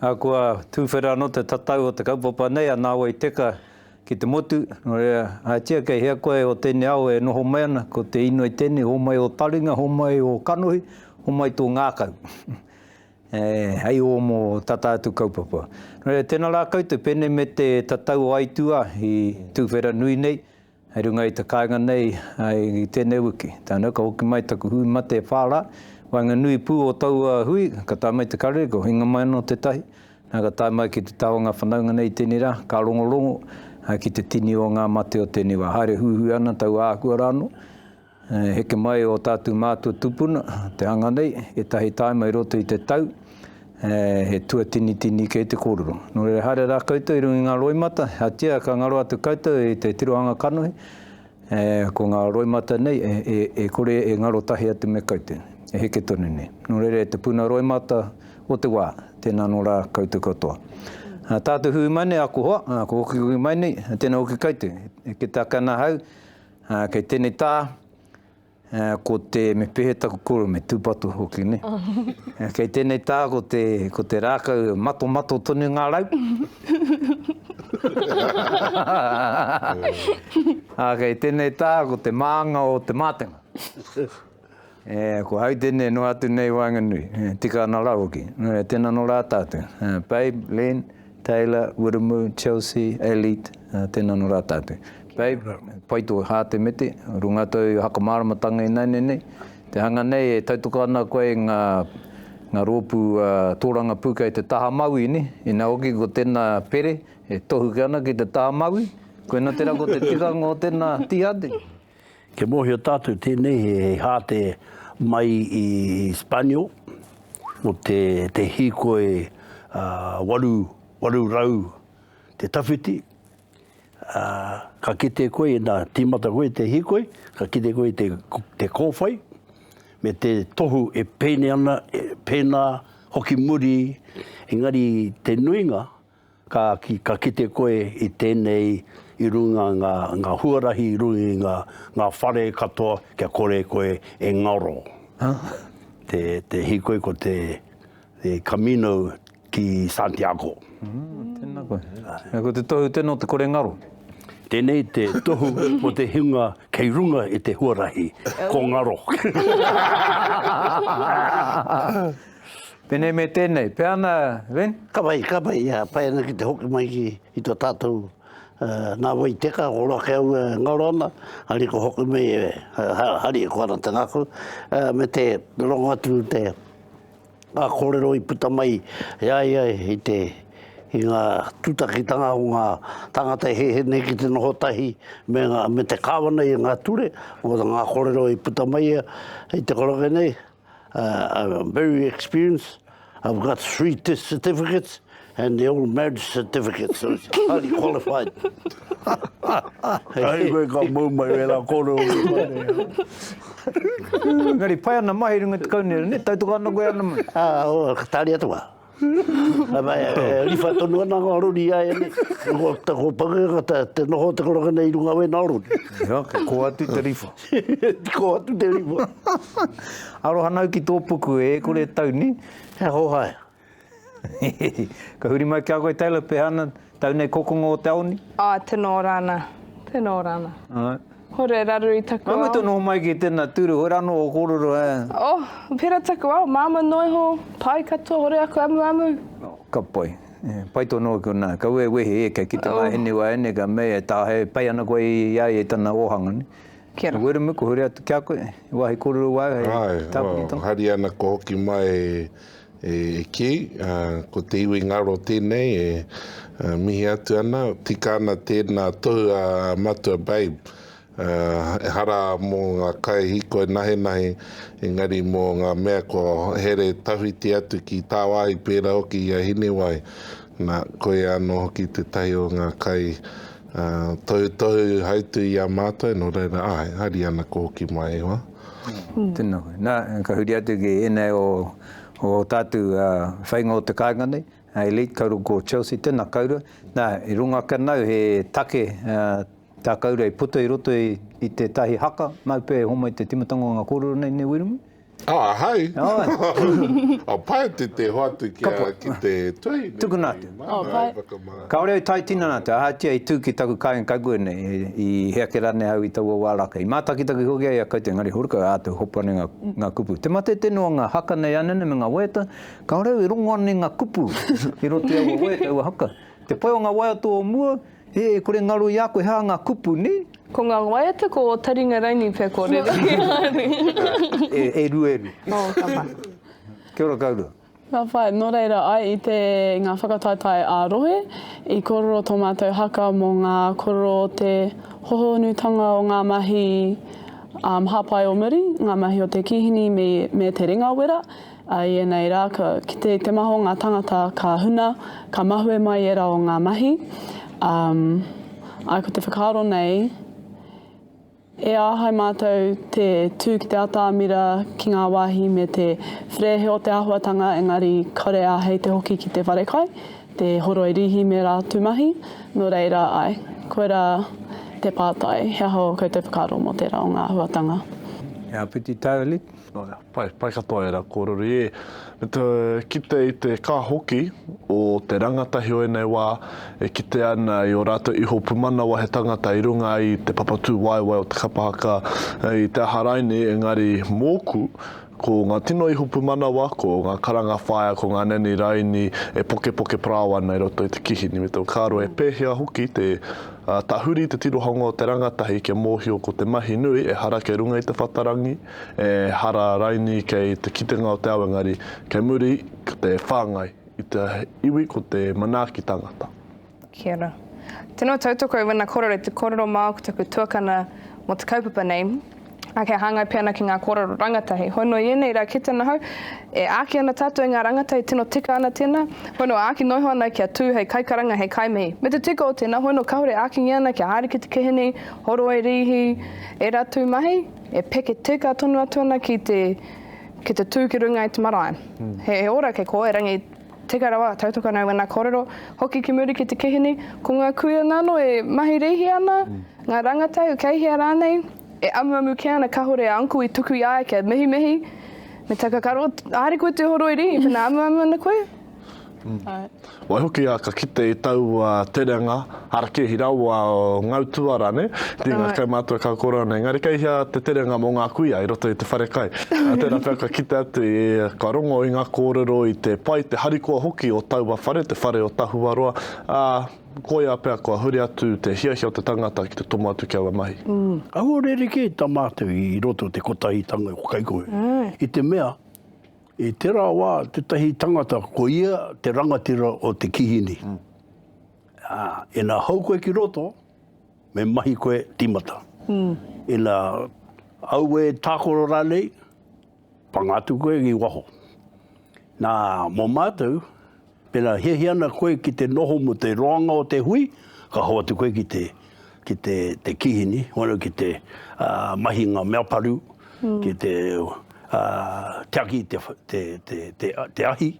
Ahakoa tuwhera anō te tatau o te kaupapa nei a Nāwai i teka ki te motu, nō reira, ahatia kei hea koe o tēnei ao e noho mai ana, ko te inoi tēnei, homai ō taringa, homai ō kanohi, homai tō ngākau, hei ōmo tata atu kaupapa. Nō reira, tēnā rā koutou, pēnei me te tatau o aituā i tuwhera nui nei, Hei runga i te kāinga nei i tēnei wiki, tāna, ka hoki mai taku hui mate e whā rā, waenganui pū o taua hui, ka tae mai te karere, ka hinga mai anō tētahi, nā, ka tae mai ki te taha o ngā whanaunga nei i tēnei rā, ka rongorongo ki te tini o ngā mate o tēnei wā. Haere huihui ana taua āhua rānō. E heke mai ō tātou mātua tūpuna, te hanga nei, ētahi tāima i roto i te tau, he tuatinitini kē te kōrero. Nō reira, haere rā koutou i runga i ngā roimata, ahatia ka ngaro atu koutou i te tirohanga kanohi, ko ngā roimata nei e kore e ngaro tahi atu me koutou, e heke tonu nei. Nō reira, e te puna roimata o te wā, tēnā anō rā koutou katoa. Ā tātou hui mai nei, aku hoa, aku hokihoki mai nei, tēnā hoki koutou, e heke take ana ahau, Kei tēnei tā, ko te, me pēhea taku koro, me tūpato hoki, nē. Kei tēnei tā, ko te, ko te rākau, matomato tonu ngā rau. Kei tēnei tā, ko te mānga o te mātenga. E, ko Hautene noa atu nei waenganui, e, tika ana rā hoki. Nō reira, tēnā nō rā tātou. E, Babe, Len, Taylor, Wiremu, Chelsea, Elite, e, tēnā nō rā tātou. Babe, pai tō hā te mete, runga tōu hakamāramatanga ināianei nei. Te hanga nei e tautoko ana koe i ngā, ngā rōpū a, tōrangapū kei te taha mauī nei, ina hoki ko tēnā pere e tohuke ana ki te taha mauī. Koinā tērā ko te tikanga o tēnā tīhāti. Kia mōhio tātou tēnei he hāte mai i Spanio, nō te, te hīkoi uh, waru, waru rau te tawhiti, uh, ka kite koe, nā, tīmata koe te hīkoi, ka kite koe te, te kōwhai, me te tohu e pēne ana, e pēnā, hoki muri, engari te nuinga, Ka ki, ka kite koe i tēnei i runga ngā, ngā huarahi i runga i ngā, ngā whare katoa kia kore koe e ngaro. Te, te hīkoi ko te, te Camino ki Santiago. Ā, tēnā koe. Ā, ko te tohu tēnō te kore ngaro? Tēnei te tohu mō te hunga kei runga i te huarahi, ko ngaro. Tenei me tenei, pea ana Ren? Ka pai, ka pai, pai ana ki te hoki mai ki, ki to tatou nga wai teka, ko roa ke au e ngaro ana, hari ko hoki mai, hari e koana te ngaku, me te rongo atu te nga korero i puta mai i a ia i te, i nga tutakitanga o nga tangata e hehe nei ki te noho tahi me nga, me te kawana i nga ture, mo nga korero i puta mai ia i te koroke nei, I'm very experienced, I've got three death certificates and the old marriage certificate, so it's highly qualified. Hei koe ka mau mai wera koro o te kone. Ngari, pai ana mahi runga te kaunera, ne? Tau toka ana koe ana mai. Ah, oh, ka tari atu wa. E riwha tonu ana ngā rori i a ia nei. Ko Pangeketanga te noho o te koranga nei i runga o ēnā rori. Oke, kō atu te riwha. Kō atu te riwha. Aroha nau ki tō puku e kore e tau, nē? He aha o haea? Ka huri mai ki a koe Taylor, pehana? Tau nei kokonga o te aoni? Āe, tena ora ana, tena ora ana. Āe. Hore, raru i taku ao. Mai mutu noho mai ki tena turu, hore ano o kororo e. Oh, pera taku ao, māmā noa iho, pai katoa, hore aku amuamu. Ka pai. Pai tonu ake ona, kaua e wehi e, kia kite nga eni waeine, ka mea e Taha, e pai ana koe i a ia i tana ohanga ne. Kia ra. Weremuku, hore atu kia koe, wahi kororo wae, hei tapuni tonu. Ae, oh, haria ana koe hoki mai. E kī, ko te iwi ngaro tēnei e mihi atu ana, tika ana tēnā tohu a Matua Babe, ehara mō ngā kai hīkoi nahenahe, engari mō ngā mea kua here tawhiti atu ki tāwāhi pērā hoki i a Hinewai. Nā, koia anō hoki tētahi o ngā kai tohutohu hautū i a mātou, nō reira, āe, haere ana ko Hokimaewa. Tēnā koe. Nā, ka huri atu ki ēnei o o tātou whainga o te kāinga nei, Elite, ka uru ko Chelsea, tēnā koura. Nā, i runga ake anō he take tā koura i puta i roto i tētahi haka, māu pea e homai te timatanga o ngā kōrero nei, nē Wiremu? Oh, ahau? Oh, pai atu te hoatu ki te tuahine nei. Tukuna atu. Kāore au tae tinana atu, ahatia i tū ki taku kāinga kaipure nei, i hea ake rānei au i taua wā rākau. I mātakitaki hoki ai a koutou, engari horuka e āta hopu ana i ngā, ngā kupu. Te mate tēnei o ngā haka nei ānene me ngā waiata, kāore au e rongo ana i ngā kupu i roto i aua waiata, aua haka. Te pai o ngā waiata o mua, he, e kore ngaro i a koe he aha ngā kupu, nē? Ko ngā waiata, ko ō taringa raini pea kōrero ki a au. E, e rua, e rua. Oh, ka pai. Kia ora koutou. Ka whai, nō reira, ai i te, ngā whakataetae ā-rohe, i kōrero tō mātou haka mō ngā kōrero o te hohonutanga o ngā mahi hāpai o muri, ngā mahi o te kīhini me te ringa wera, i ēnei rā, ki te, te maha o ngā tāngata ka huna, ka mahue mai ērā o ngā mahi, ā, ko te whakaaro nei, E āhei mātou te tū ki te atamira, ki ngā wāhi me te wherēhe o te āhuatanga engari kāore āhei te hoki ki te wharekai, te horoi rīhi me rātu mahi, nō reira, āe, koirā te pātai, he aha ō koutou whakaaro mō tērā o ngā āhuatanga? He āpiti tau, Alick. Nōia, pai, pai katoa ērā kōrero i ē. Me te kite i te kā hoki o te rangatahi o ēnei wā e kitea ana i ō rātou iho pumanawa he tangata i runga i te papatūwaewae o te kapa haka i te aha rainī engari mōku ko ngā tino iho pumanawa, ko ngā karanga whaea, ko ngā nanny rainī e pokepoke parao ana i roto i te kihini me te whakaaro e pēhea hoki te tahuri te tirohanga o te rangatahi kia mōhio ko te mahi nui ehara kei runga i te whatarangi. Ehara raini kei te kitenga o te ao engari kei muri ko te whangai i te iwi ko te manaaki tangata. Kia ora. Teno tautoko i wena korero, te korero mao ko taku tuakana mo te kaupapa nei, a kia hangai pe ana ki nga korero rangatahi. Hoi no i enei ra kite ana hau, e aaki ana tatou i nga rangatahi tino tika ana tena, hoi no aaki noiho ana kia tu hei kaikaranga, hei kaimihi. Me te tika o tena, hoi no kahore akingia ana kia haere ki te kehenei, horoi, riihi, era tu mahi, E peke tika tonu atu ana ki te, ki te tū ki runga i te marae. He ora kei koe, rangi tika rawa, tautoko ana au i ngā kōrero, hoki ki muri ki te kihini, ko ngā kuia nano e mahi rīhi ana, ngā rangatahi, kei hea rānei, e amuamu kē ana kahore a uncle i tuku i a ia kia mihimihi, me takakaro, haere koe te horoi rīhi pēnā amuamu ana koe. Waihoki a ka kite i taua terenga harakeihi rawa o ngau tuara ne tinga kai matua kau korau nei engari kei hea te terenga mo nga kuia i roto i te whare kai a tera pea ka kite atu i ka rongo i nga korero i te pai te harikoa hoki o taua whare te whare o Tahuaroa a koia pea kua huri atu te hiahia o te tangata ki te tomo atu ki aua mahi. Ahua rerekē ta matou i roto te kotahitanga o Kaikohe i te mea I tērā wā, tētahi tangata, ko ia te rangatira o te kihini. Ā, ina hou koe ki roto, me mahi koe tīmata. Ina aue tākoro rānei, panga atu koe ki waho. Nā, mō mātou, Pēnā hiahia ana koe ki te noho mō te roanga o te hui, ka hoatu koe ki te, ki te, te kihini, waru ki te uh, mahi ngā mea paru, mm. ki te uh, tiaki te, te, te, te, te ahi.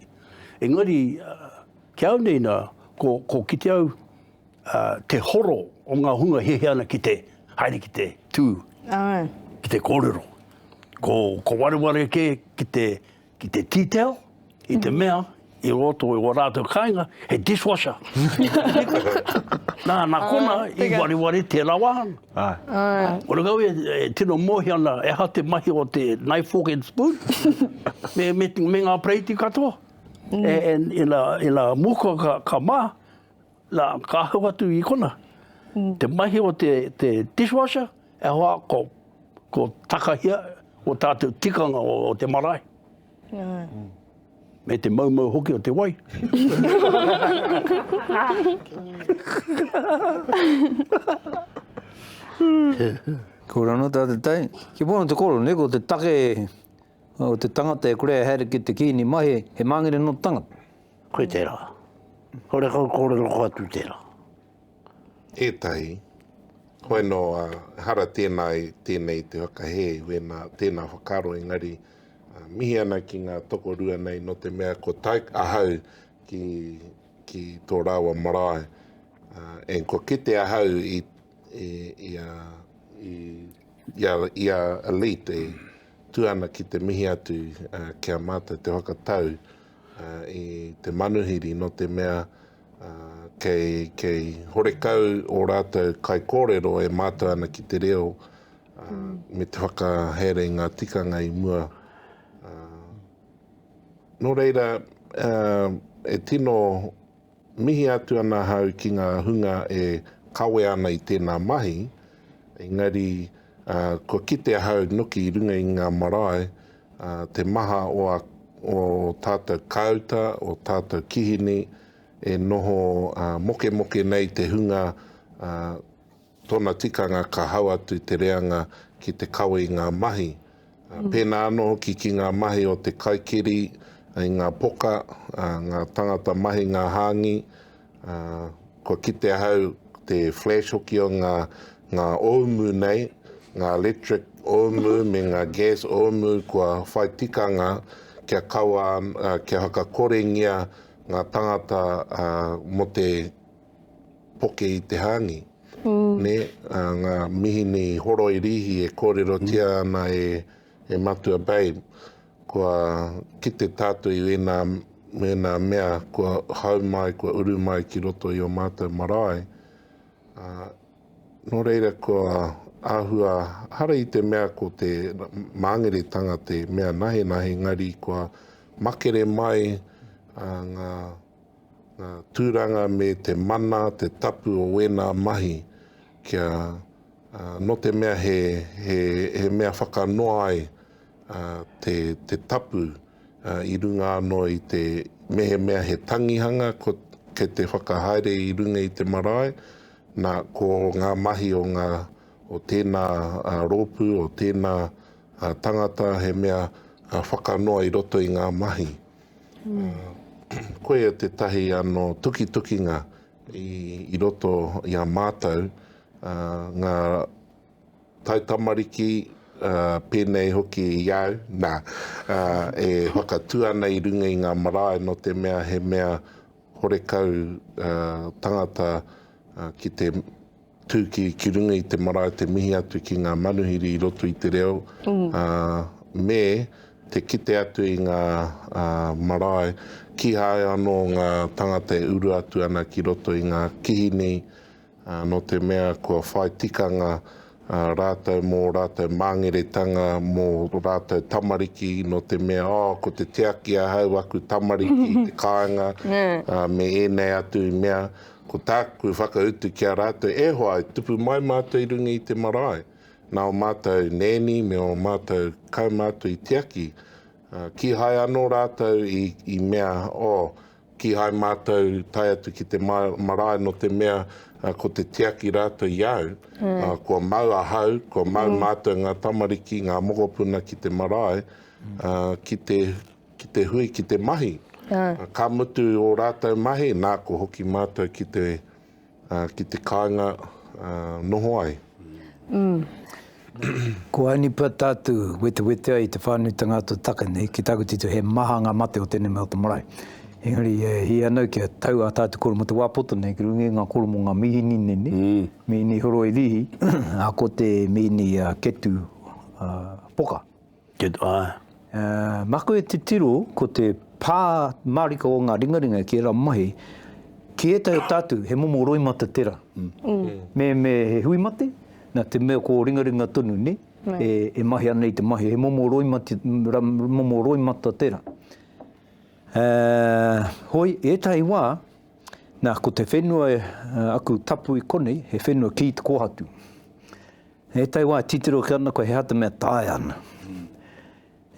Engari, uh, ki au nei nā, ko, ko ki te au uh, te horo o ngā hunga hiahia ana ki te haere ki te tū, Ai. ki te kōrero. Ko, ko wareware ke ki te ki te tea teo, i te mea, i roto i o rātou kāinga, he dishwasher. Nā, nā kona, ah, i wariwari te rawa. Ah. Ah. Ora kau e, e tino mōhi ana, e ha te mahi o te knife, fork and spoon, me, me, me ngā preiti katoa. Mm. E, e, e, la, e la muka ka, ka mā, Na, ka hau atu i kona, te mahi o te, te dishwasher, e hoa, ko, ko takahia o tatou tikanga o, o te marae. Mm. Me te maumau hoki o te wai. Ko rano tā te tai. Ki pono te koro, ne, ko te take o te tangata e kore e haere ki te kīni mahi, he māngere nō te tangata. Koe tērā. Kore kau kōrero ko atu tērā. Ētahi. Hoi nō, ehara tēnā i tēnei i te whakahē, wēnā, tēnā whakaaro engari, mihi ana ki ngā tokorua nei nō te mea ko tai, ahau ki, ki tō rāua marae. Uh, and ko kite ahau i, i, i, a, i, i, a, i a elite e tu ana ki te mihi atu uh, ki a mātou te whakatau. Uh, i te manuhiri no te mea kei, kei horekau o rātou kai kōrero e mātou ana ki te reo mm. me te whakahere ngā tikanga i mua. Uh, nō reira, uh, e tino Mihi atu ana ahau ki ngā hunga e kawea ana i tēnā mahi, engari kua kite ahau noki i runga i ngā marae te maha o a o tātou kāuta, o tātou kihini e noho mokemoke nei te hunga Tōna tikanga ka hau atu te reanga ki te kawe i ngā mahi, pēnā anō hoki ki ngā mahi o te kaikiri i ngā poka, ngā tangata mahi, ngā hāngi. Kua kite ahau te flash hoki o ngā ōumu nei, ngā electric ōumu me ngā gas ōumu kua whai tikanga kia kaua, kia whakakorengia ngā tangata mō te. poke i te hāngi, nē, ā, ngā mihini horoi rīhi e kōrerotia ana e, e Matua Babe, kua kite tātou i ēnā, ēnā mea kua hau mai, kua uru mai ki roto i ō mātou marae, ā, nō reira kua āhua, hara i te mea ko te māngeretanga te mea nahenahe, engari kua makere mai, ā, ngā. ngā tūranga me te mana, te tapu o wēnā mahi kia nō te mea he, he, he mea whakanoa ai te, te tapu i runga anō i te mehemea he tangihanga ko, ke te whakahaere i runga i te marae, nā ko ngā mahi o ngā o tēnā rōpū, o tēnā tangata he mea whakanoa i roto i ngā mahi. Koia tētahi anō tukitukinga i roto i a mātou, ngā taitamariki pēnei hoki i au, nā, e whakatū ana i runga i ngā marae nō te mea he mea horekau tangata ki te. Tū ki, ki runga i te marae te mihi atu ki ngā manuhiri i roto i te reo, ā, me te kite atu i ngā, ā, marae, kīhai anō ngā tāngata e uru atu ana ki roto i ngā kihini, ā, nō te mea kua whai tikanga, ā, rātou mō rātou māngeretanga, mō rātou tamariki, nō te mea, oh, ko te tiaki ahau aku tamariki i te kāinga, ā, me ēnei atu mea, Ko tāku whakautu ki a rātou, e hoa, e tupu mai mātou i runga i te marae, nā ō mātou nēni me ō mātou kaumātua i tiaki, ā, kīhai anō rātou i, i mea, ō, kīhai mātou tae atu ki te ma, marae nō te mea, ā, ko te tiaki rātou i au, ā, kua mau ahau, kua mau mātou ngā tamariki, ngā mokopuna ki te marae, ā, ki te ki te hui, ki te mahi. Ka mutu ō rātou mahi, nā ko hoki mātou ki te, ki te kāinga noho ai. Ko Aini Pata atu wetewete ai te whānuitanga a tō take nei, ki tāku tito he maha ngā mate o tēnei mea o te marae. Engari e hia ana kia tau ā tātou koromo te wā poto nei ki runga i ngā koromo ngā mīhini nei, mīhini horoi rīhi, ko te mīhini ketu poka. Good eye. Maku e titiro ko te pā marika o ngā ringaringa ki era mahi, ki etahi o tatu he momo roimata tera. Me me he hui mate, na te mea ko ringaringa tonu ne, e mahi ana i te mahi, he momo roimati, momo roimata tera. Hoi, etahi wa, na ko te whenua aku tapu i konei, he whenua ki te kohatu. He tai wā titiro ki ana koe he ata mea taea ana.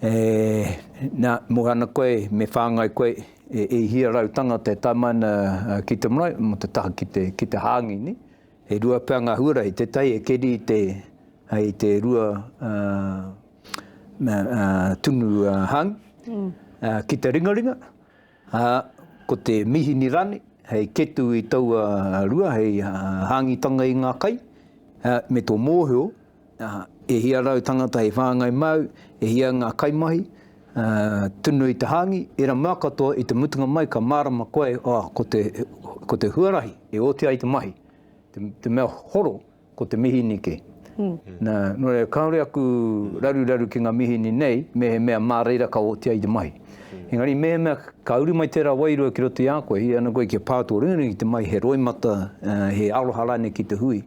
E, nā, mō ana koe, me whāngai koe, e, e hia rau tangata e tae mai ana ki te marae, mō te taha ki te, ki te hāngi, nē. E rua pea ngā huarahi, te tai e keri i te, hei te rua, ā, ā, tunu hāngi, ā, ki te ringaringa. Ā, ko te mihini rānei, hei ketu i taua rua, hei hāngitanga i ngā kai, ā, me tō mōhio, ā, e hia rau tangata hei whāngai māu, e hia ngā kaimahi, ā, tunu i te hāngi, ērā mea katoa i te mutunga mai ka mārama koe, ā, ko te, ko te huarahi e oti ai te mahi, te, te mea horo Ko te mihinike. Nā, nō reira, kāore aku raruraru ki ngā mihini nei, mehemea mā reira ka otia i te mahi. Engari mehemea ka uru mai tērā wairua ki roto i a koe, i ana koe kia pā tō ringaringa ki te mahi, he roimata, he aroha rānei ki te hui,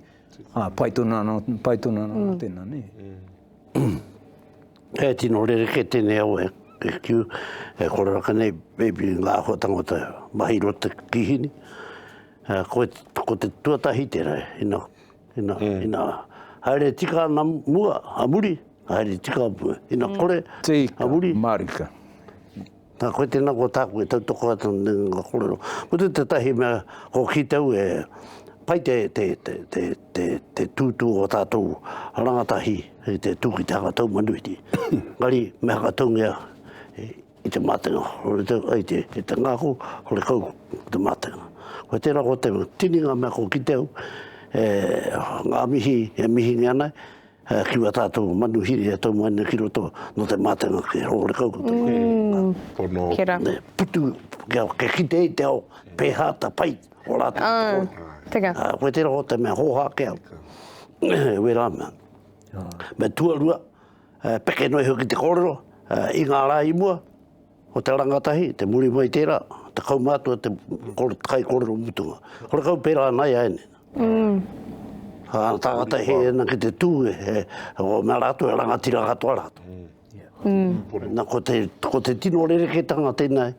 ā, pai tonu anō, pai tonu anō nō tēnā, nē. He tino rerekē tēnei au e kiu, e kore raka nei, maybe ngā āhua tāngata mahi i roto i te kīhini, Ko, ko te tuatahi tērei, ina, ina, mm. ina, haere tika ana mua, a muri, haere tika mua, ina mm. kore, tika, a muri. Marika. Nā koe tēnā kua tāku e tautoko atu nā ngā kōrero. Ko te tētahi mea, ko ki tau e, pai te, te, te, te, te, te tūtū o tātou rangatahi, te tū ki te haka tau manuiti. Ngari, me haka taungia, I te mātenga, hore te, ai te, te tangako, hore kau te mātenga. Koe tērā ko te tini ngā mea kua kite au, e, ngā mihi e mihingia ana, e, ki wā tātou manuhiri e tau mai nei ki roto, nō te mātenga kē, hore kau ko te mātenga. Mm. Pono. Kē rā. Nei, putu, kia, kia kite ai te ao, pēhā ta pai o rātou te kore. Āe. Teka. Ā, koe tērā ko te mea hōhā kē au, e wērā mea. Āe. Me tuarua. Peke noa iho ki te kōrero, i ngā rā i mua, ko te rangatahi, te muri mai tērā, te kaumātua, te kai kōrero mutunga. Kore kau pērā ana i a ēnei. Ka tāngata he ana ki te tū, he, o mea rātou e rangatira katoa rātou. Nā, ko te, ko te tino rerekētanga tēnei,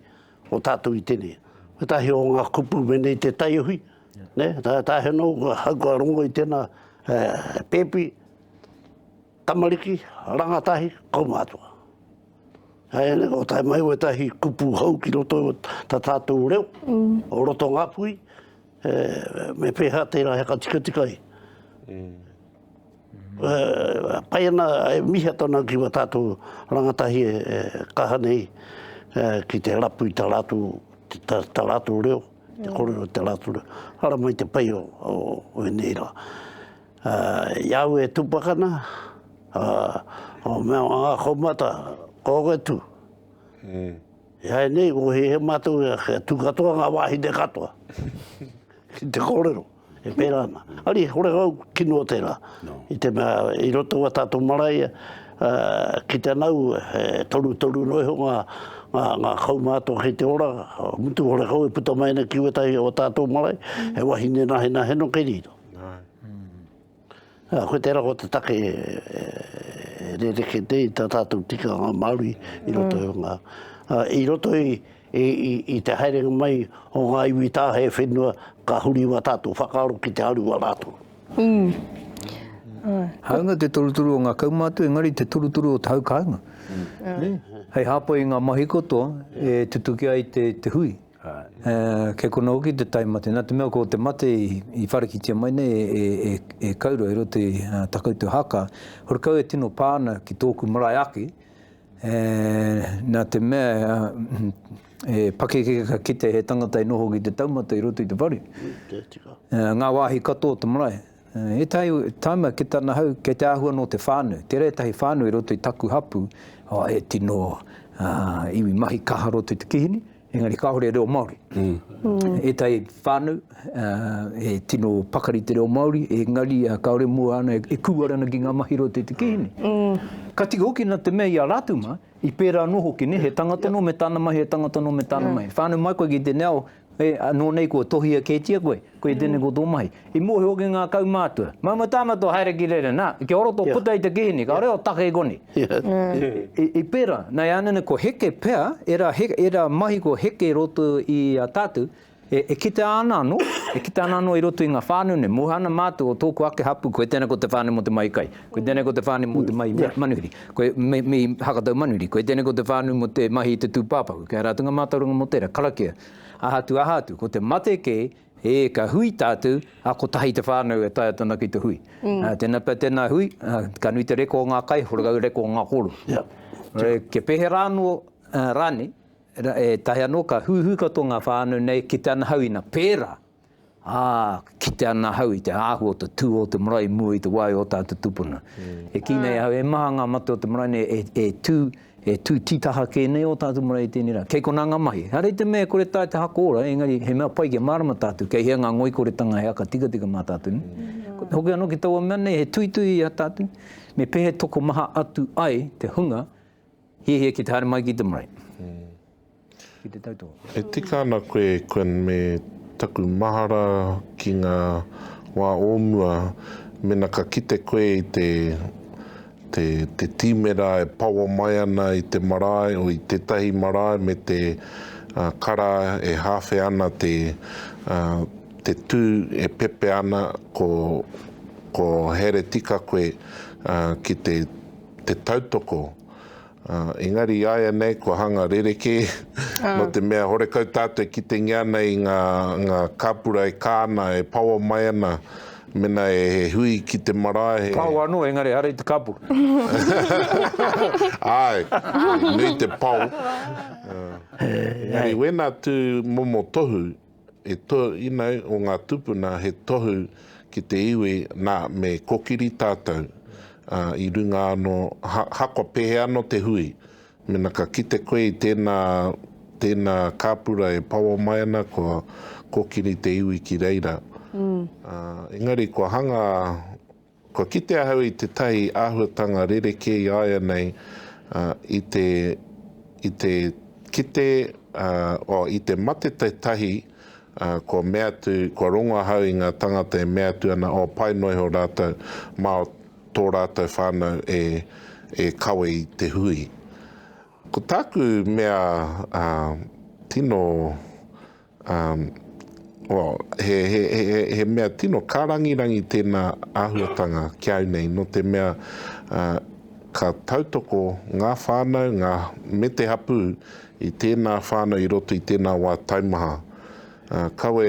o tātou i tēnei. Ētahi o ngā kupu mēnei te taiohi, ne, tā, tā he nō, hau kua rongo i tēnā, pēpi, Tamariki, rangatahi, kaumātua. Hei ane, ko tae mai wetahi kupu hou ki roto o ta tātou reo, o roto ngapui, e, me pēhā tērā he katikatika i. Mm. E, pai ana, e miha tona ki wa tātou rangatahi e, e kaha nei, e, ki te rapu i ta rātou, ta, ta rātou reo, te korero te rātou reo. Hara mai te pai o, o, o e nei rā. I au e tupakana, o mea o nga koumata, ko koe tu. I ai nei, ko he he matou e ake, tu katoa nga wahine katoa. Ki te korero, e pera ana. Ari, kore au kino o tera. I te mea, i roto wa tatou marae, ki te nau, he torutoru no iho nga, nga, nga kaumata ki te ora, mutu hore kau e puta mai ana ki wetahi o tatou marae, he wahine nahenahe no ke riro. Nā, koe tērā ko te take e rerekē nei i tā tātou tikanga Māori i roto i ngā, i roto i te haerenga mai o ngā iwi tāhae whenua ka huri wā tātou whakaaro ki te aru wā rātou. Hāunga te toruturu o ngā kaumātua engari te toruturu o te hau kāinga. Hei hāpai i ngā mahi katoa e tutuki ai te hui. Kei konā hoki te tae mate, nā te mea ko te mate i whārikitia mai nei e Kaurau i roto i tā koutou haka, horekau e tino pā ana ki tōku marae ake, nā te mea he pakeke ka kite he tangata i noho ki te taumata i roto i te whare, ngā wāhi katoa o te marae. Ētahi taima ki tana hau, kei te āhua nō te whānau. Tērā ētahi whānau i roto i taku hapū, oh, he tino uh, iwi mahi kaha roto i te kihini, engari kāore reo Māori. Mm. Ētahi whānau, uh, he tino pakari te reo Māori, engari uh, kāore mua ana e, e kūara ana ki ngā mahi roto i te kihini. Mm. Ka tika hoki na te mea i a rātou mā, i pērā anō hoki, ne, he tangata nō me tāna mai, he tangata nō me tāna mm. mai. Whānau mai koe ki tēnei ao, E, anō nei kua tohia kētia koe, koe tēnei ko tō mahi. I mōhio ake ngā kaumātua, Mau mai tāna tō haere ki reira, nā, kia ora tō puta i te kihini, ka reo take i konei. I, i pērā, nā, e ana nei ko heke pea, ērā, ērā mahi ko heke i roto i a tātou, e, e kitea ana anō, e kitea ana anō i roto i ngā whānau nei, moe ana mātou o tōku ake hapū, koe tēnei ko te whānau mō te mahi kai. Koe tēnei ko te whāne mō te mahi manuhiri. Koe, me, me hakatau manuhiri. Koe tēnei ko te whānu mō te mahi i te tūpāpaku. Kei a rātou ngā mātauranga mō tērā, karakia. Aha atu, aha atu, ko te mate kē, e, ka hui tātou, a, kotahi te whānau e taea tana ki te hui. Mm. A, tēnā pea tēnā hui, a, ka nui te reko o ngā kai, horekau reko o ngā koro. Yeah. E, kia pēhera anō uh, rānei, e tahi anō, ka hūhū katoa ngā whānau nei ki te anahau ina pērā. Ā, kite ana ahau i te āhua o te tū o te marae i mua i te wā i ō tātou tūpuna. E kī nei ahau, e maha ngā mate o te marae nei e, e tū, e tū tītaha kē nei ō tātou marae i tēnei rā. Kei konā ngā mahi. Haere i te mea e kore taea te hako ora, engari he mea pai kia mārama tātou, kei hea ngā ngoikoretanga he aka tikatika mā tātou nei. Hoki anō ki taua mea nei, he tuituhi i a tātou, me pēhea e tokomaha atu ai te hunga, Hiahia ki te haere mai ki te marae. Ki te tau toa. E tika ana koe, Quinn, me taku mahara ki ngā wā o mua, mena ka kite koe i te, te, te tīmera e paoa mai ana i te marae, o i tētahi marae me te, uh, kara e hāwhe ana te, uh, te tū e pepe ana, ko, ko haere tika koe, uh, ki te te tautoko, ā, engari i āianei kua hanga rerekē, nō te mea horekau tātou e kitengia ana i ngā, ngā kāpura e kā ana, e paoa mai ana, mena e he hui ki te marae, he. Pao anō, engari ehara i te kāpura. Āe, nui te pao. Engari wēnā tū momo tohu, He tōinau o ngā tupuna he tohu ki te iwi nā me kokiri tātou i runga anō hako pēhea anō te hui. Mena ka kite koe i tēnā tēnā kāpura e pawa mai ana kua kokiri te iwi ki reira. Engari kua hanga. Kua kite ahau i tētahi āhuatanga rerekē i a ia nei, ā, i te, i te kite, ā, oh, i te mate tētahi, ā, kua mea atu, kua rongo ahau i ngā tāngata e mea atu ana, oh, pai noa iho rātou mā tō rātou whānau e, e kawe i te hui. Ko tāku mea, ā, tino. Um, well, he, he, he, he, he mea tino kārangirangi tēnā āhuatanga ki au nei, no te mea uh, ka tautoko ngā whānau ngā, me te hapū i tēnā whānau i roto i tēnā wā taumaha. Uh, kawe,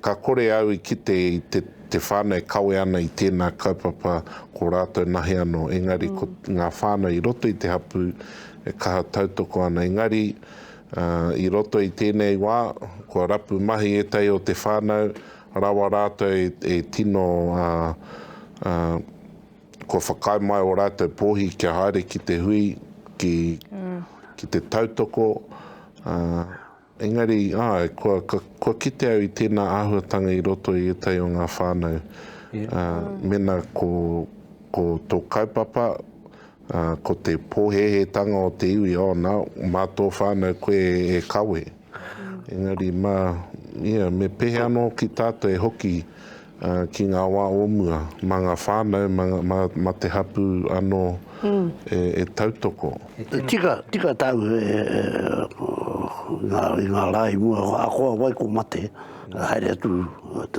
ka kore au i kite i te, te whānau e kawe ana i tēnā kaupapa ko rātou nahe anō, engari mm. ko ngā whānau i roto i te hapū e kaha tautoko ana, engari I roto i tēnei wā, kua rapu mahi ētahi o te whānau rawa rātou e tino, kua whakaae mai ō rātou pōhi kia haere ki te hui, ki te tautoko, engari, āe, kua kite au i tēnā āhuatanga i roto i ētahi o ngā whānau. Mēnā ko tō kaupapa, Ā, ko te pōhēhētanga o te iwi, oh, nā, mā tō whānau koe e kawe. Engari, mā, ia, me pehe anō ki tātou e hoki ki ngā wā o mua, mā ngā whānau, mā, mā, mā te hapū anō e, e tautoko. E tika, tika tāu e, e, e, ngā, i ngā rā i mua, ahakoa wai ko mate, haere atu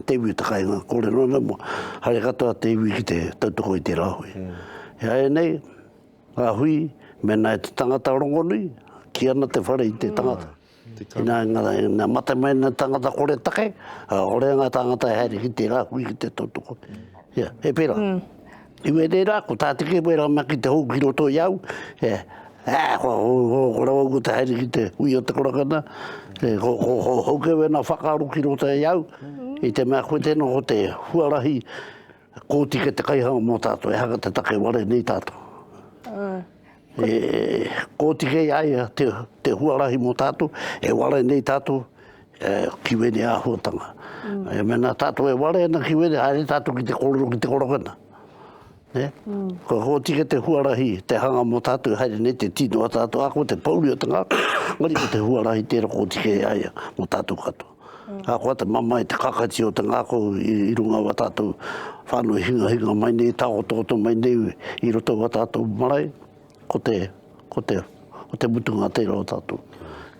te iwi o te kāinga, kōrero ana mua, haere katoa te iwi ki te tautoko i tērā hui. He aia nei ngā hui, mēnā e te tangata rongonui, kī ana te whare i te tangata. Ina mate mai ana te tangata koretake, orea ngā tāngata e haere ki tērā hui ki te tautoko. He pērā. I wērērā, ko tā te kē wērā mea ki te hou ki roto i au, ko rāua ko te haere ki te hui o te korakana, ko hou kē wēnā whakaaro ki roto i au, i te mea koe tēnā ko te huarahi, Kōtika te kaihanga mō tātou, ehaka te take ware nei tātou. Āe. E kōtika i a ia te, te huarahi mō tātou, e ware nei tātou, e, ki wēne āhuatanga. Mm. E mena tātou e ware ana ki wēne, haere tātou ki te kōrero ki te korokana. Ne? Mm. Ko kōtika te huarahi, te hanga mō tātou, haere nei te tino a tātou, ako te pauri o te ngā, ngari ko te huarahi tēra kōtika i a ia mō tātou katoa. Ahakoa te mamae, te kakaiti o te ngākau i runga o a tātou whānau hingahinga mai nei, tāototo mai nei i roto o a tātou marae, ko te, ko te, ko te mutunga tērā o tātou.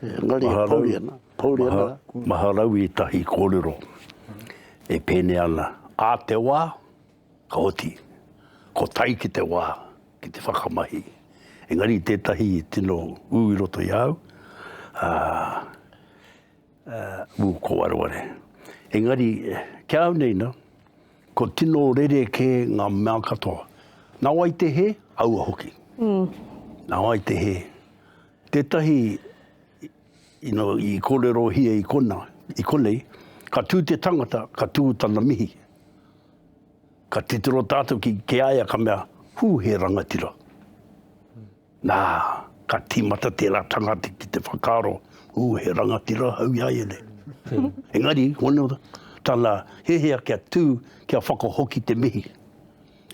Engari, e pouri ana, pouri ana. Maharau, maharau ētahi kōrero e pēnei ana, ā te wā, ka oti, ko tai ki te wā, ki te whakamahi. Engari tētahi tino ū i roto i a au, ā, Ū, ko wareware. Engari, ki a au nei nā, kua tino rerekē ngā mea katoa. Nā wai te hē? Aua hoki. Nā wai te hē? Tētahi i kōrerohia i konā, i konei, ka tū te tangata, ka tū tana mihi. Ka titiro tātou ki a ia ka mea, Hū, he rangatira. Nā, ka tīmata tērā tangata ki te whakaaro, Ū, he rangatira au i a ia nei. Engari, hono tana hehea kia tū, kia whakahoki te mihi.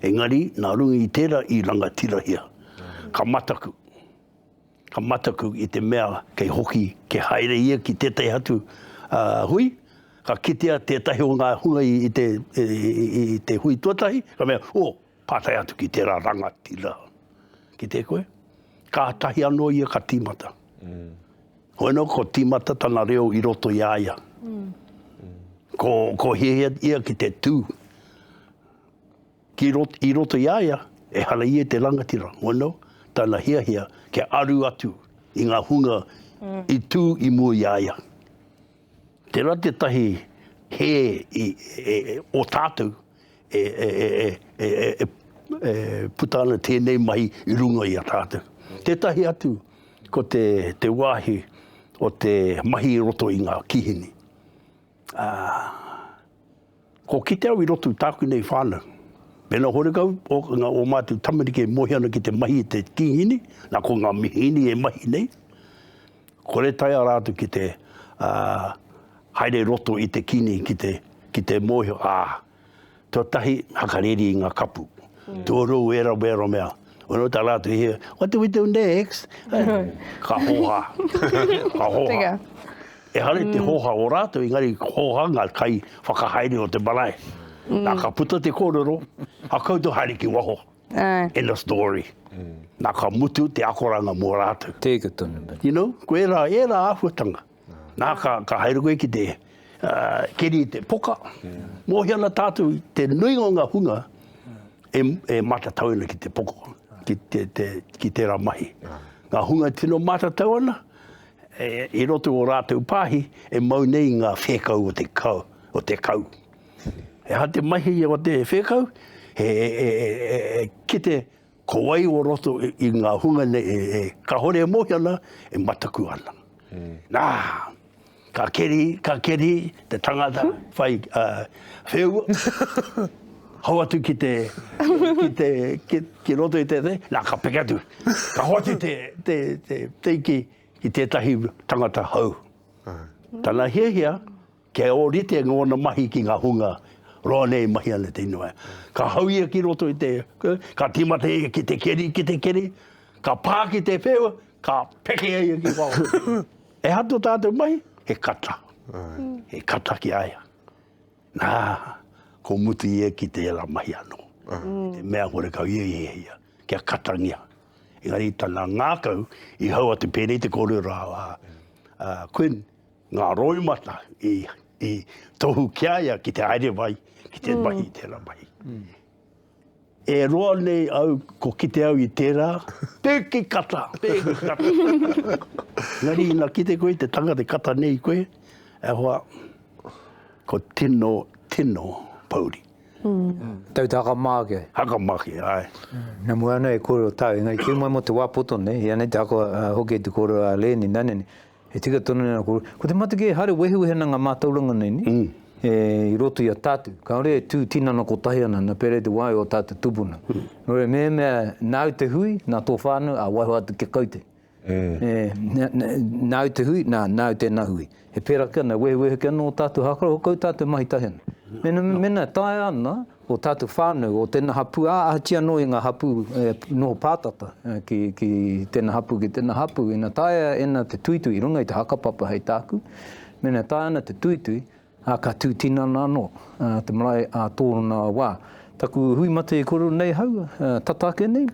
Engari, nā runga i tērā i rangatirahia, ka mataku. Ka mataku i te mea kei hoki, kei haere ia ki tētahi atu hui, ka kitea tētahi o ngā hunga i te hui tuatahi, ka mea, Oh! Pātai atu ki tērā rangatira, ki te koe, kātahi anō ia ka tīmata. Hoi anō, ko tīmata tana reo i roto i a ia. Ko, ko hiahia ia ki te tū. Ki rot, i roto i a ia, e hara ia te rangatira. Hoi anō, tana hiahia kia aru atu i ngā hunga i tū i mua i a ia. Tērā tētahi hē o tātou e puta ana tēnei mahi i runga i a tātou. Tētahi atu, ko te wāhi o te mahi i roto i ngā kīhini. Ko kite au i roto i tāku nei whānau, mēnā horekau ngā o mātou tamariki e mohi ana ki te mahi i te tīhini, nā ko ngā mihini e mahi nei, kore taea rātou ki te haere roto i te kini ki te, ki te mōhio, ā, tuatahi, hakareri i ngā kapu, tuarua, wēra, wēra mea. Wano tā rātou hea, what do we do next? ka hoha. ka hoha. E hare te mm. hoha o rātou, ingari hoha ngā kai whakahaere o te marae. Mm. Nā ka puta te kōrero, a koutou haere ki waho. Uh. In the story. Mm. Nā ka mutu te akoranga mō rātou. Tēka tonu. You know, ko e rā, e rā ahuatanga. Nā, ka, ka haere koe ki te uh, keri te poka. Yeah. Mōhi ana tātou te nuinga o ngā hunga e, e matatau ana ki te poka, ki, te, te, ki tērā mahi. Yeah. Ngā hunga tino matatau ana, e, i roto o rātou pāhi, e mau nei ngā whēkau o te kau. O te kau. E ha te mahi o te whēkau, he e, e, e, e, e, kite Ko wai o roto i ngā hunga nei e kāore e mōhio ana, e mataku ana. Nā, ka keri, ka keri te tangata whai wheua, hou atu ki te, ki te, ki, ki roto i te te, nā, ka peke atu. Ka hou atu te, te, te, te iki ki tētahi tangata hou. Tana hiahia, Kia ōrite ngōna mahi ki ngā hunga roa nei e mahi ana i te inoi. Ka hau ia ki roto i te, ka tīmata ia ki te keri, ki te keri, ka pā ki te wheu, ka pekea ia ki waho. E hato tātou mahi, he kata. He kata ki a ia. Nā, ko mutu i eke te ela mahi anō. Te mea kore kau ia i hiahia, kia katangia. Engari tana ngākau i hau a Te Pēnei te kōrero a Quinn, Ngā roimata i tohu ki a ia ki te haere mai, ki te mahi i tērā mahi. E roa nei au, ko kite au i tērā, pēki kata, pēki kata. Engari ina kite koe te tangata e kata nei i koe, e hoa, ko tino, tino pouri. Tau te haka mā ake? Haka mā ake, āe. Nā mua anō e kōrero tāu, engari kī mai mō te wā poto nei, i anei te haka hoki e te kōrero a Lēni, nā nene, E tika tonu nei aku, ko te mate kē haere wehewehenga ngā mātauranga nei ni, e i roto i a tātou. Kāore e tū tinana kotahi ana, na pērā i te wā i ō tātou tupuna. Nō reira mēhemea nāu te hui, nā tō whānau, ā, waiho atu kia kau te. E, nāu te hui, nā, nāu tēnā hui. E pērā ake ana, e wehewehe ake ana ō tātou hākara, hokau tātou mahi tahi ana. Mēnā, mēnā e taea ana, o tātou whānau, o tēnā hapū, ā, ahatia anō i ngā hapū e noho pātata ki, ki tēnā hapū, ki tēnā hapū, ina taea ēnā te tuitui i runga i te hakapapa hei tāku, mēnā taea ana te tuitui, ā, ka tū tinana anō te marae ā tōna wā. Taku hui mate i koro nei hau, tata ake nei,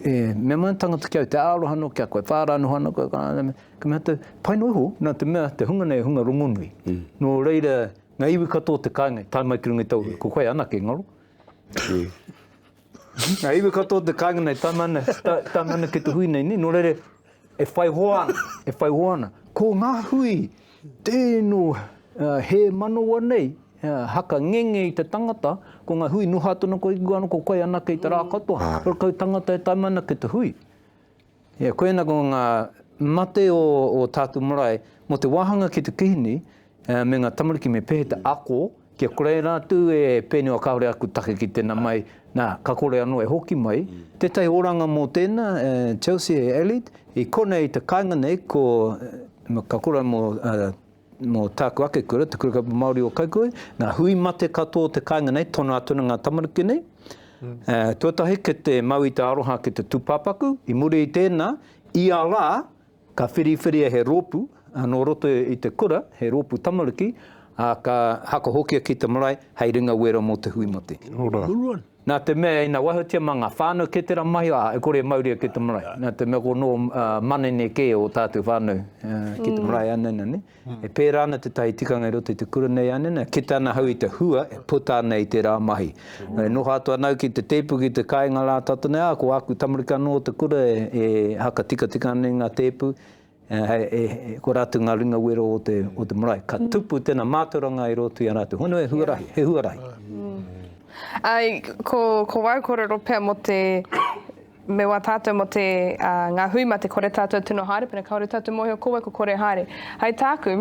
E, mea mai tangata ki au, te aroha no ki a koe, whāra noho ana koe, ka mea te, pai no iho, na te mea, te hunga nei, he hunga rongonui. Mm. No reira, nga iwi katoa te kainga, tae mai ki runga i tau, ko koe anake, ngaro. Mm. Nga iwi katoa te kainga nei, tae mai ana, tae mai ana ki te hui nei, ni, no reira, e whai hoa ana, e whai hoa ana. Ko nga hui, Tēino hē manawa nei, haka ngenge i te tangata, ko ngā hui noho atu ana koe ki waho, ko koe anake i te rā katoa, ko kou tangata e taima ana ki te hui. Ia, koina ko ngā mate o tātou marae, mō te wāhanga ki te kihini me ngā tamariki me pēhea te ako, Kia kore ai rātou e pēnei kāore aku take ki tēnā mai, nā, ka kore anō e hoki mai. Tētahi oranga mō tēnā, Chelsea Elliot, i konei te kāinga nei ko, ka kore ai mō, mō tāku ake kura, Te Kura Kaupapa Māori o Kaikōhē, nā, hui mate katoa te kāinga nei, tono atu ana ngā tamariki nei. Tuatahi, kei te mau i te aroha ki te tūpāpaku, i muri i tēnā, ia rā, Ka whiriwhiria he rōpū nō roto i te kura, he rōpū tamariki, ā, ka hakahokia ki te marae hei ringa wera mō te hui mate. Nā te mea ina wahatia mā ngā whānau kē tērā mahi, ā, e kore e mauria ki te marae. Nā te mea ko nō manene kē ō tātou whānau ki te marae, ānana nei. E pērā ana tētahi tikanga i roto i te kura nei a Nina, kite ana ahau i te hua e puta ana i tērā mahi. E noho atu ana au ki te tēpu, ki te kāinga rā tātou nei, ā, ko āku tamariki anō o te kura e, e hakatikatika ana i ngā tēpu, e, e, ko rātou ngā ringa wero o te, o te marae. Ka tupu tēnā mātauranga i roto i a rātou. Hono he huarahi, he huarahi. Ai, ko, ko wau kōrero pea mō te, Me wā tātou mō te, ā, ngā hui mā te kore tātou tino haere, pēnā kāore tātou mōhio ko wai ko kore haere. Hei tāku,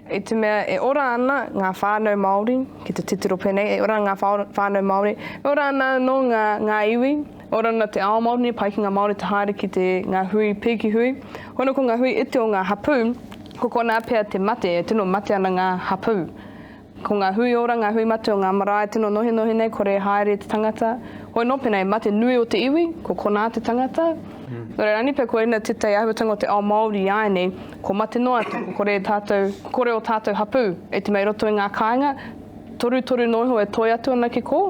i te mea e ora ana ngā whānau Māori, ki te titiro pēnei, e ora ana ngā whānau Māori, e ora ana anō ngā, ngā iwi, e ora ana te ao Māori nei, pai ki ngā Māori te haere ki te, ngā hui, pēki hui. Hono ko ngā hui iti o ngā hapū, ko konā pea te mate, e tino mate ana ngā hapū. Ko ngā hui ora, ngā hui mate o ngā marae tino nohinohi nei, kore e haere te tangata, hoi nō pēnā e mate nui o te iwi, ko konā te tangata. Nō reira, anipe koina tētahi āhuatanga o te ao Māori iāianei, kua mate noa atu, kua kore tātou, kua kore ō tātou hapū e te mea i roto i ngā kāinga, torutoru noa iho e toe atu ana ki kō?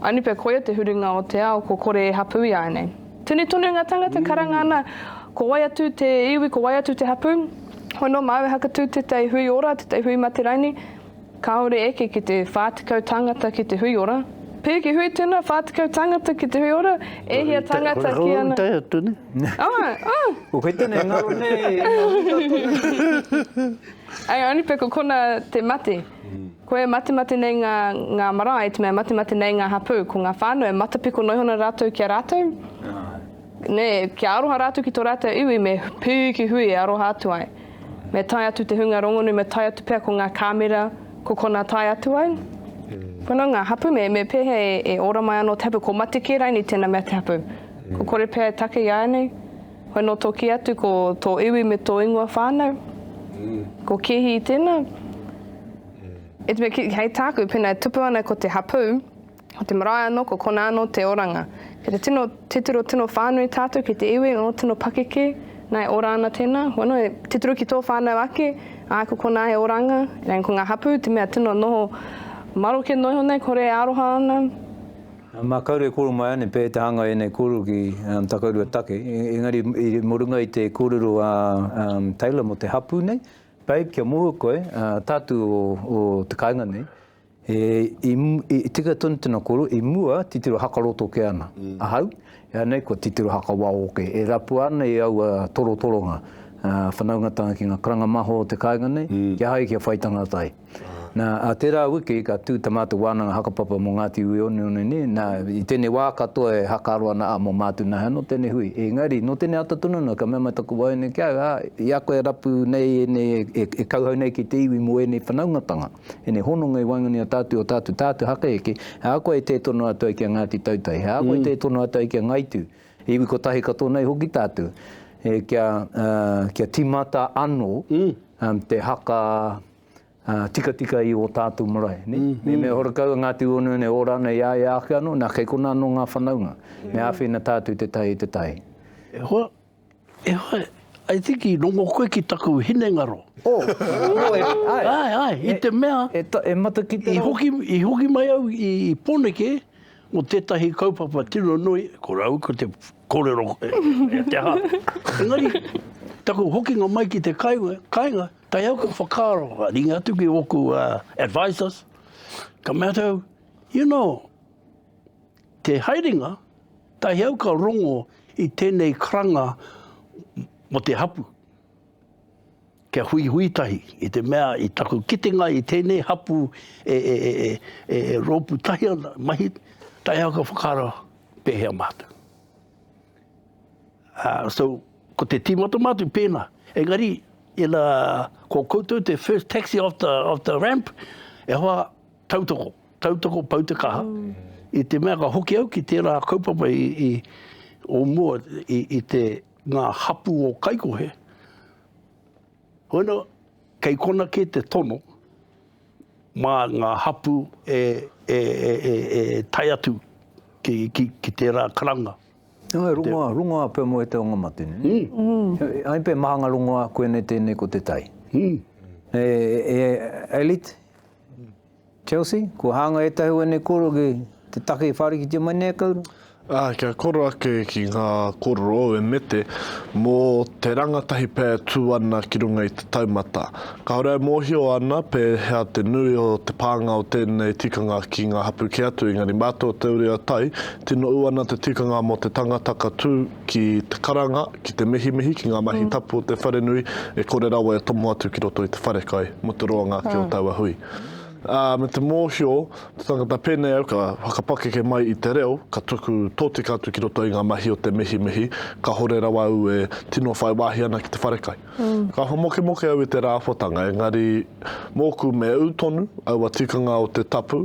Anipe koia te huringa o te ao, kua kore e hapū iāianei. Tunu tonu nga tangata karanga ana, ko wai atu te iwi, ko wai atu te hapu, hoi no mau e hakatu tetai hui ora, tetai hui mate raini, kaore eke ki te wha tekau tangata ki te hui ora. Piri ki hui tuna, wha tekau tangata ki te hui ora, e hia tangata ki ana. Ko itai atu ne? Ah, ah. Ko koe tenei ngaro nei, nga wika tonu. I only pe ko kona te mate. Koe e matemate nei ngā, ngā marae, te mea matemate nei ngā hapū, ko ngā whānau e matapiko noihona rātou ki a rātou, nē, kia aroha rātou ki tō rātou iwi, me piri ki hui e aroha atu ai. Me tae atu te hunga rongonui, me tae atu pea ko ngā kāmera, ko konā tae atu ai. Pono ngā hapū, me, me pēhea e, e ora mai anō te hapū, ko mate kē raini tēnā mea te hapū. Ko kore pea e take i āianei. Hono toki atu ko tō iwi me tō ingoa whānau. Ko Kehi tēnā. E te mea, hei tāku, pēnā e tupu ana ko te hapū, ko te marae anō, ko konā anō te oranga. Kei te tino titiro, tino whānui tātou ki te iwi, ō, tino pakeke, nā, e ora ana tēnā. Hono, e titiro ki tō whānau ake, ā, ko konā he oranga. Engari ko ngā hapū, te mea tino noho maroke noa iho nei, kore e aroha ana. Mā karu e koro mai ane pea e te hanga ēnei kōrero ki Takarua take, engari mo runga i te kōrero a Taylor mo te hapū nei, Babe, kia mohio koe, tātu o te kāinga nei, e tika tonu tena koro, i mua titiro hakaro toke ana ahau, e anei kua titiro hakawao oke, e rapua ana e aua torotoronga whanaungatanga ki nga karanga maho o te kāinga nei, kia hae kia whai tangata ai. Nā, ā tērā wiki ka tū tā mātou wānanga hakapapa mō Ngāti Ueoneone nei, nā, i tēnei wā katoa e hakaaro ana, ā, mō Mātu Nahe anō tēnei hui. Engari, nō tēnei ata tonu anō, ka mea mai taku waeine ki a au, ā, i a koe e rapu nei ēnei, e, e kauhau nei ki te iwi mō ēnei whanaungatanga, ēnei hononga i waenganui i a tātou, i ō tātou, tātou haka eke, he aha koa e tē tono atu ai ki a Ngāti Tautai, he aha koa e tē tono atu ai ki a Ngaitu, Iwi kotahi katoa nei hoki tātou, e, kia, uh, kia timata ano mm. um, te haka uh, tikatika i o tātou marae. Ne? Mm. Me mea horakau ngā tū ono nei, ora nei ia e ake ano, nā kei kona ano ngā whanaunga. Mm. Me āwhina tātou te tai i te tai. E hoa, e hoa, I think i rongo koe ki taku hinengaro. Oh, oh e, ai. Ai, ai, i e, te mea. E, ta, e mata ki te I hoki, I hoki mai au i, i Poneke, Ko tētahi kaupapa tino nui, ko rāua ko te kōrero e te aha. Engari, taku hokinga mai ki te kāinga, tae aku whakaaro, ka ringa atu ki ōku advisers, ka mea tau, you know, te haerenga, tae au ka rongo i tēnei karanga mo te hapu. Kia huihui tahi, i te mea i taku kitenga i tēnei hapū e, e, e, e, e, e rōpū tahi ana, mahi, tae au ka whakaara pēhea mātou. Uh, so, ko te tīmata mātou pēnā. Engari, ina, ko koutou te first taxi off the, off the ramp, e hoa tautoko, tautoko pau te kaha. Mm. I te mea ka hoki au ki tērā kaupapa i, i, o mua i, i te ngā hapū o kaikohe, Koina, kei kona kē te tono mā ngā hapū e tae atu ki tērā karanga. Nō, he rongoā, rongoā pea mō te anga mate, nē? Ai pea, māhanga rongoā, koinei tēnei ko te tai. Elite? Chelsea, Kua hāngai ētahi o ēnei kōrero ki te take i whārikitia mai nei e Kauru? Ā, kia koro ake ki ngā kōrero o Emete mō te rangatahi pea e tū ana ki runga i te taumata. Kāore e mōhio ana pēhea te nui o te pānga o tēnei tikanga ki ngā hapū kē atu, engari mā tō Te Uri a Tai, tino ū ana te tikanga mō te tangata ka tū, ki te karanga, ki te mihimihi, ki ngā mahi tapu o te wharenui, e kore rawa e tomo atu ki roto i te wharekai mō te roanga ake o taua hui. Ā, me te mōhio te tangata pēnei au ka whakapakeke mai i te reo, ka tuku tōtika atu ki roto i ngā mahi o te mihimihi, kāhore rawa au e tino whai wāhi ana ki te wharekai. Ka whamokemoke au i te rāwhatanga, engari mōku me ū tonu aua tikanga o te tapu,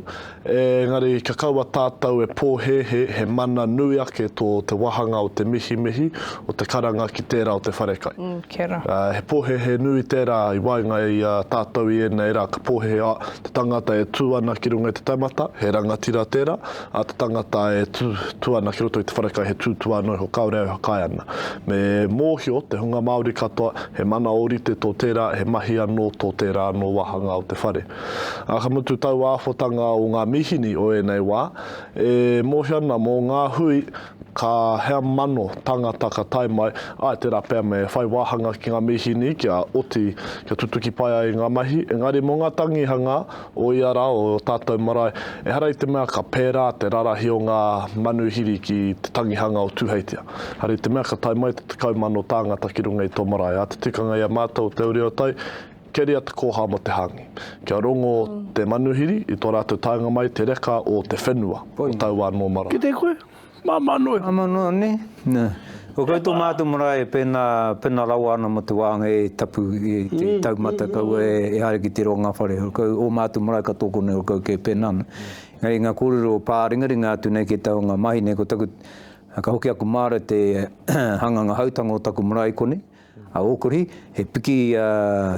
engari kia kaua tātou e pōhēhē he mana nui ake tō te wāhanga o te mihimihi o te karanga ki tērā o te wharekai. He pōhēhē nui tērā i waenga i a tātou i ēnei rā, ka pōhēhē, oh, te tangata e tū ana ki runga i te taumata, he rangatira tērā, a te tangata e tū, tū ana ki roto i te wharekai he tūtūā anō iho kāore au e whakaae ana. Me mōhio te hunga Māori katoa he mana ōrite tō tērā, he mahi anō tō tērā anō wāhanga o te whare. Ā, ka mutu taua āwhotanga o ngā mīhini o ēnei wā, e mōhio ana mō ngā hui ka hea mano tangata ka tae mai, āe tērā pea me whai wāhanga ki ngā mīhini kia oti, kia tutuki pai ai ngā mahi, engari mō ngā tangihanga o ia rā, o ō tātou marae, ehara i te mea ka pērā te rarahi o ngā manuhiri ki te tangihanga o Tūheitia. Ehara i te mea ka tae mai te tekau mano tāngata ki runga i tō marae, ā te tikanga i a mātou o Te Uri o Tai, keria te kōhā mō te hāngi. Kia rongo te manuhiri i tō rātou taenga mai te reka o te whenua, o taua anō marae. Ki te koe? Māmā noa iho. Māmā noa nē. Nē. Ko koutou mātou marae pēnā, pēnā rawa ana mō te wānga e tapu, e te taumata kaua e haere ki te roa o ngā whare. Kau, ō mātou marae katoa konei o kau kē pēnā ana. Engari ngā kōrero o pāringaringa atu nei ki te taonga mahi nei, ko taku, ka hoki aku māra te hanganga hautanga o taku marae konei, A Okori, he piki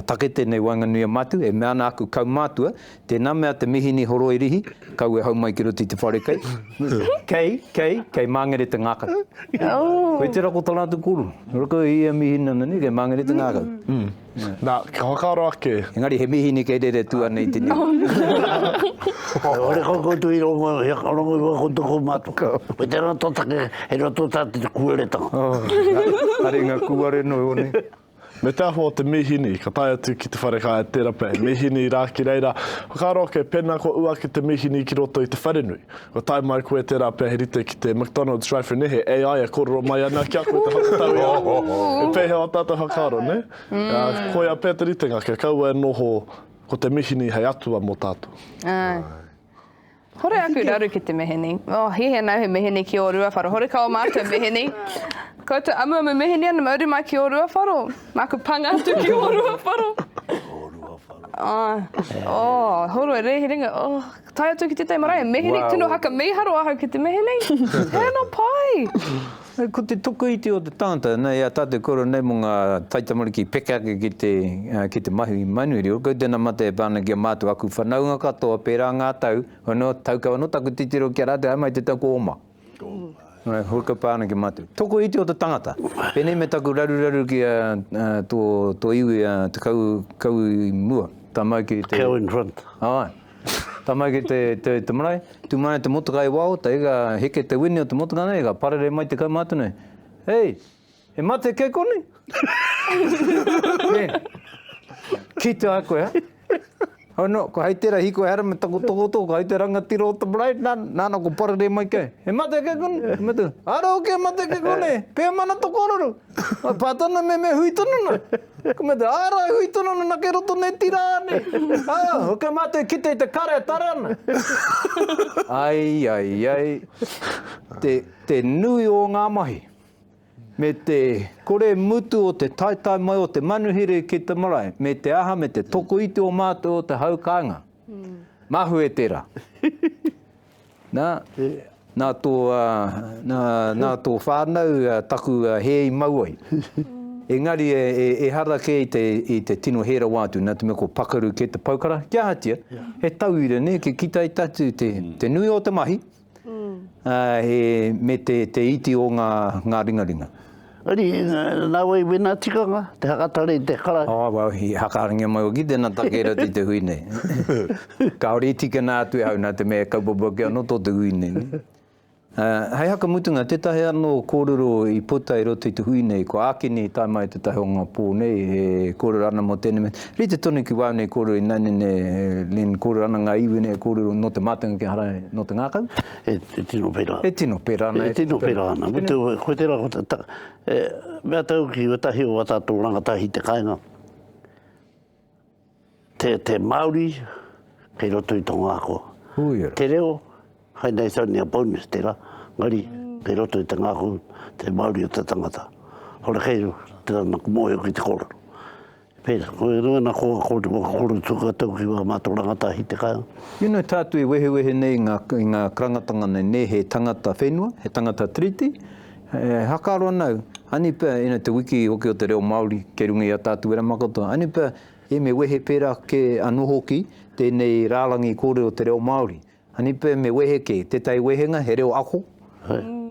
take tenei waenganui a Matu, e mea ana aku kaumatua, Tena mea te mihini horoi rihi, kau e hau mai ki roto i te whare kei, kei, kei, kei mangere te ngakau. Koe tera ko tana atu koro, ora kau e ia mihini ana nei kei mangere te ngakau. Na, ka whakaaro ake. Engari he mihini kei rere tu ana i te niu. Ora kau koutou i rongo, he whakarongorua ko toko Matu. Koe tera to take. He roto tā te kuaretanga. Oh, haringa kūare noa iho nei. Me te āhua o te mīhini, ka tae atu ki te wharekāia terape, mīhini rā ki reira. Whakaaro ake, pēnā kua ū ake te mīhini ki roto i te wharenui, kua tae mai koe tērā pea he rite ki te McDonald's drive-thru nehe AI e kōrero mai ana ki a koe te whakatau i a koe. He pēhea ō tātou whakaaro, nē? Ā, koia pea te ritenga, kia kaua e noho ko te mīhini hei atua mō tātou. Āe. Hore aku raru ki te meheni. Oh, he he nau he meheni ki o Ruawharo. Hore ka o mātou meheni. Koutou amuamu meheni ana, mauri mai ki o Ruawharo. Māku panga atu ki o Ruawharo. o Ruawharo. Oh, oh, horo e rehi ringa. Oh, tai atu ki te tei marae, meheni, wow. tino haka miharo ahau ki te meheni. Hena pai. Ko te tuku iti o te tangata, nei a tatou koro nei mo nga taitamariki peke ake ki te ki te mahi manu reo, kau tena mate e pa ana ki a matou aku whanaunga katoa pera nga tau, ono tau kau ano taku titiro ki a ratou hae mai te tau ko oma. Hoi kau pa ana ki matou. Tuku iti o te tangata, penei me taku raruraru ki a to to iwi a te kau kau i mua, ta mai ki te. Kau in front. Aye. Tae mai ki te, te, te marae, tū mai te motoka i wao, te ega heke te wini o te motoka nei, ka parere mai te kaumātua nei, Hei, he mate kei konei? yeah. Ki te ai koe, Oh no, ko hei tera hiko hera me taku toko toko, ko hei te rangatira o te marae, nā, nā, nā, ko parere mai kei. He mate kei konei? He mate, ara o kei mate kei konei, pēmana to kororo. Nā pā tonu me me hui tonu na. Ka mea te āra e hui tonu na kei roto nei tira nei. Aa, ok mātou kite i te kare e tare ana. Ai, ai, ai. Te, te nui o ngā mahi. Me te kore mutu o te taetae mai o te manuhiri ki te marae, me te aha, me te tokoiti o mātou o te hau kāinga. Mahue tera. Nā, nā tō, nā, nā tō whānau taku hē i mau ai. Engari e, e, ehara kē i te, i te tino hē rawa atu, nā te mea ko pakaru kē te paukara, kia ahatia, he tauira nē, kia kitai tatu te, te nui o te mahi, ā, he, me te, te iti o ngā, ngā ringaringa. Riri, nāua i wina tikanga, te hakatare i te kara. Oh, well, i hakarangia mai au ki tēnā take rata i te hui nei. Kāore i tīkina atu e au nā te mea e kaupapa ake anō tō te hui nei. Hei whakamutunga, tētahi anō kōrero i puta i roto i te hui nei, ko Ākene i tae mai i tētahi o ngā pō nei e kōrero ana mō tēnei mea, rite tonu ki wāu nei kōrero ināianei nei, Len, kōrero ana ngā iwi nei e kōrero nō te mātenga ki a Harae nō te ngākau. E tino pērā. E tino pērā ana. E tino pērā ana. Ko tērā, mea tauki, ētahi o wā tātou rangatahi te kāinga, te Māori, kei roto i tō ngākua. Te reo, hai nei it's only a bonus tērā, engari, kei roto i te ngākau, te Māori o te tangata. Ora kei, tērā nā ka mōhio ki te kōrero. Pēs, Ko e rua na ko, ko te whakakore tuku a Taukiwa ma to rangatahi te kai. You know tātou e wehewehe nei i ngā, i ngā karangatanga nei, nē, he tangata whenua, he tangata tiriti, e hakaaro ana au, haini pea, ina te wiki hoki o te reo Māori kei runga i a tātou wera makato, haini pea e me wehe pērā kē anō hoki tēnei rārangi kōrero o te reo Māori. A Nipe me wehe kē, tētahi wehenga he reo ako,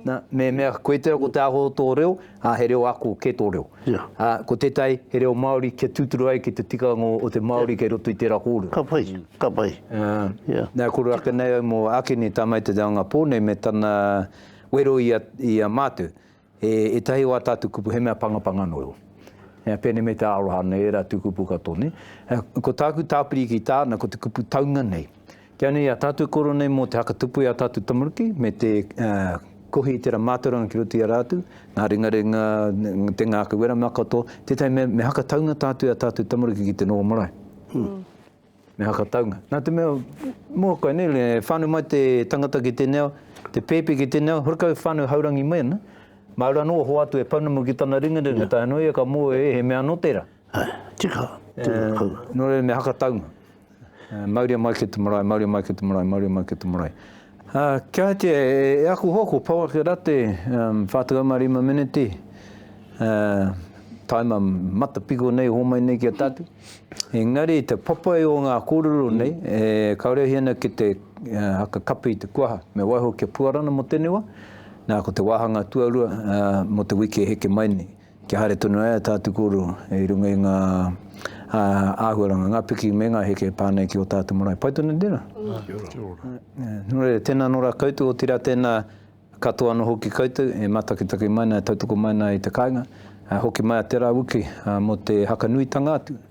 nā, me mea koe te ako te aho o tō reo, ā, he reo ako kē tō reo. Ā, ko tētahi he reo Māori kia tūturu ai ki te tikanga o te Māori kei roto i tērā kōrero. Ka pai, ka pai. Ā, nā, kore ake nei au mō Akini, tamaiti o te Angapō nei me tana wero i a, i a Mātou. He ētahi o ā tātou kupu, he mea pangapanga noa iho. He pēnei me te aroha ana e ērā tū kupu katoa nei. Ko tāku tāpiri ki tāna, ko te kupu taunga nei. Kia nei, ā tātou koro nei mō te hakatupu i ā tātou tamariki, me te kohi i tērā mātauranga ki roto i a rātou, ngā ringaringa, te ngākau wera mea katoa, tētahi mea, me hakataunga tātou i ā tātou tamariki ki te noho marae. Me haka taunga. Nā te mea, mua koe nei, e whānau mai te tangata ki tēnei ao, te pēpi ki tēnei ao, horekau whānau haurangi mai ana, māu rā nō a hoatu e pounamu ki tana ringaringa, yeah. tae anō ia ka mō e, he mea anō tērā. Hai, tika, tika. Uh, eh, nō reira me haka taunga. Uh, eh, mauria mai ki te marae, mauria mai ki te marae, mauria mai ki te marae. Kiatia e aku hoa ko Paul Kerate, 45 meneti, taima matapiko nei, homai nei ki a tatu. Engari te papai o nga korero nei, e karehi ana ki te haka kapi i te kuaha, me waiho ki a Puarana mo tenei wa, na ko te wahanga tuarua mo te wiki e heke mai nei. Kia haere tonu ai a tātu kōrero i runga i ngā āhuaranga, ngā piki me ngā heke pā nei ki o tātu marae. Pai tonu tēnā. Kia ora. Kia ora. Nō reira, tēnā nō rā koutou, otirā tēnā katoa anō hoki koutou e mātakitaki mai nā, e tautoko mai nā i te kāinga, hoki mai a Te Rāwiki mō te hakanuitanga atu.